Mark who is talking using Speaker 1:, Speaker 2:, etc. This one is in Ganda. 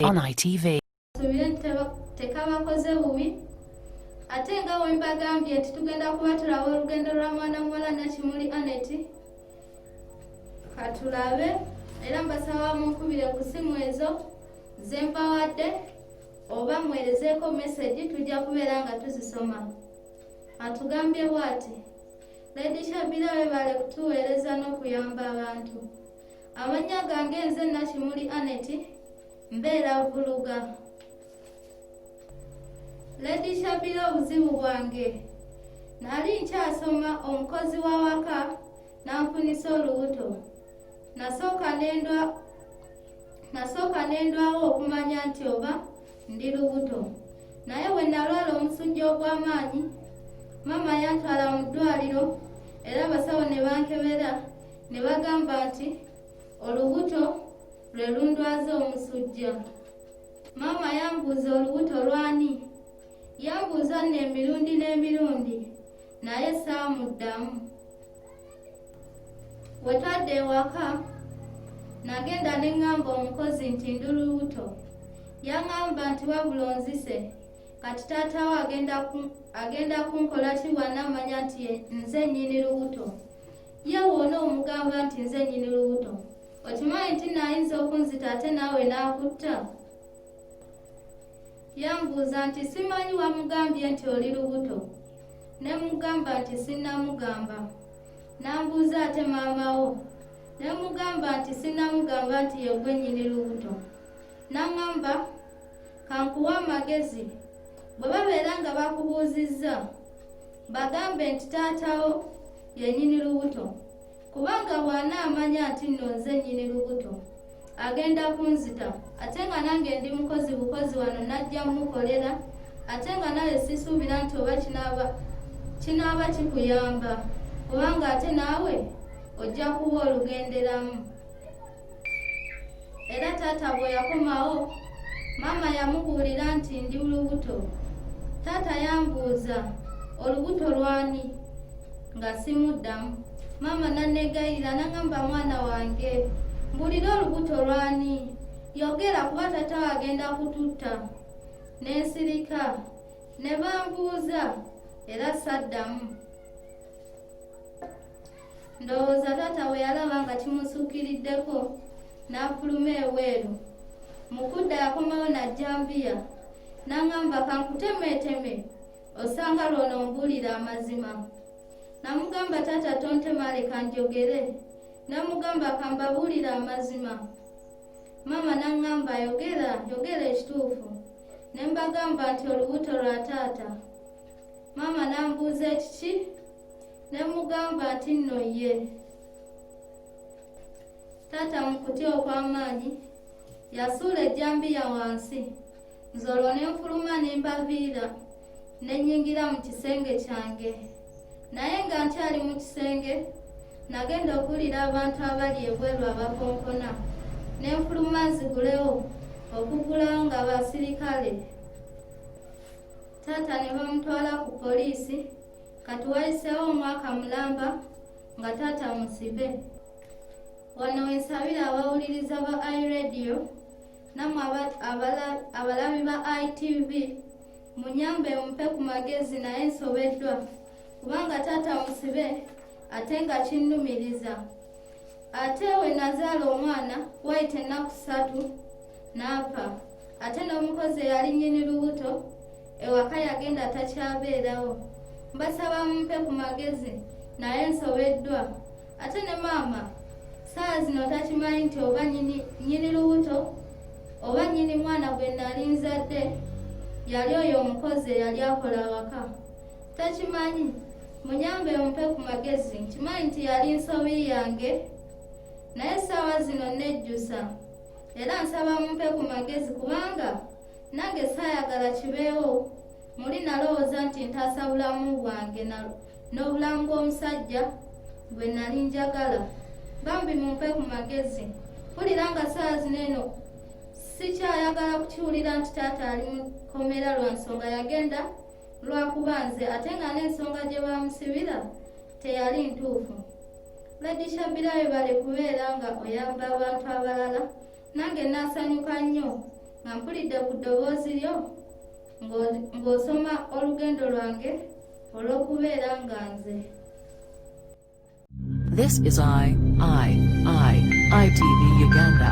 Speaker 1: On ITV.
Speaker 2: tekabakoze bubi ate nga wembagambye nti tugenda kubatulawo olugendo lwa mwana muwala nakimuli aneti katulabe era mbasaba munkubire ku simu ezo zempawadde oba mwerezeeko mesegi tujja kubeera nga tuzisoma atugambye bwati Lady Shabira webale kutuweereza n'okuyamba abantu. Amannya gange nze Nakimuli Anet mbeera Vuluga. Lady Shabira obuzibu bwange nali nkyasoma omukozi w'awaka n'anfunisa olubuto nasooka nendwawo okumanya nti oba ndi lubuto naye bwe nalwala omusujja ogw'amaanyi maama yantwala mu ddwaliro era abasawo ne bankebera ne bagamba nti olubuto lwe lundwaza omusujja maama yambuuza olubuto lwani yambuuza nno emirundi n'emirundi naye saamuddamu Bwe twadda ewaka nagenda ne ŋŋamba omukozi nti ndi lubuto. Yaŋŋamba nti wabula onzise kati taata wo agenda ku- agenda kunkola ki bw'anaamanya nti ye- nze nnyini lubuto. Ye wona omugamba nti nze nnyini lubuto. Okimanyi nti naayinza okunzita ate naawe n'akutta? Yambuuza nti simanyi wamugambye nti oli lubuto? Ne mugamba nti sinnamugamba. N'ambuuza ate maama wo? Ne mugamba nti sinnamugamba nti ye gwe nnyini lubuto. N'aŋamba kankuwa amagezi bwe babeera nga bakubuuzizza bagambe nti taatawo yennyini lubuto. kubanga bw'anaamanya nti nno nze nnyini lubuto agenda kunzita ate nga nange ndi mukozi bukozi wano najja mukolera ate nga naye sisuubira nti oba kinaaba kinaaba kikuyamba kubanga ate naawe ojja kuba olugenderamu era taata bwe yakomawo maama yamubuulira nti ndi lubuto taata yambuuza olubuto lwani nga simuddamu maama nanegayirira nangamba mwana wange mbulira olubuto lwani yogera kuba taata wagenda kututta nensirika ne bambuuza era saddamu ndowooza taata bwe yalaba nga kimusukkiriddeko n'afuluma ebweru mu kudda yakomawo najjambiya n'aŋamba kankutemeeteme osanga lwono mbuulira amazima namugamba taata tontema leka njogere namugamba kambabuulira amazima maama n'aŋŋamba yogera yogera ekituufu ne mbagamba nti olubuto lwa taata maama n'ambuuza ekiki ne mugamba nti nno ye taata mu kutya okw'amaanyi yasuula ejjambiya wansi nze olwo ne nfuluma ne mbaviira ne nnyingira mu kisenge kyange naye nga nkyali mu kisenge nagenda okuwulira abantu abali ebweru abakonkona ne nfuluma nzigulewo okugulawo nga basirikale taata ne bamutwala ku poliisi kati wayiseewo omwaka mulamba nga taata musibe wano wensabira abawuliriza ba iradio namwe abalabi ba itv munyambe mumpe ku magezi naye nsobeddwa kubanga taata musibe ate nga kinnumiriza ate we nazaala omwana wayita ennaku ssatu n'afa ate n'omukozi eyali nnyini lubuto ewaka yagenda takyabeerawo mbasaba mumpe ku magezi naye nsobeddwa ate ne maama saa zino takimanyi nti oba nnyini lubuto oba nnyini mwana gwe nali nzadde yali oyo omukozi eyali akola awaka takimanyi munyambe mumpe ku magezi nkimanyi nti yali nsobi yange naye essaawa zino nejjusa era nsaba mumpe ku magezi kubanga nange saayagala kibeewo muli nalowooza nti ntaasa bulamu bwange n'obulamu bw'omusajja bwe nali njagala bambi mumpe ku magezi mpulira nga saawa zino eno sikyayagala kukiwulira nti taata ali mu kkomera lwa nsonga yagenda lwakuba nze ate nga n'ensonga gye baamusibira teyali ntuufu Lady Shabira webale kubeera nga oyamba abantu abalala nange naasanyuka nnyo nga mpulidde ku ddoboozi lyo ng'osoma olugendo lwange olw'okubeera nga nze
Speaker 1: This is I, I, I, ITV Uganda.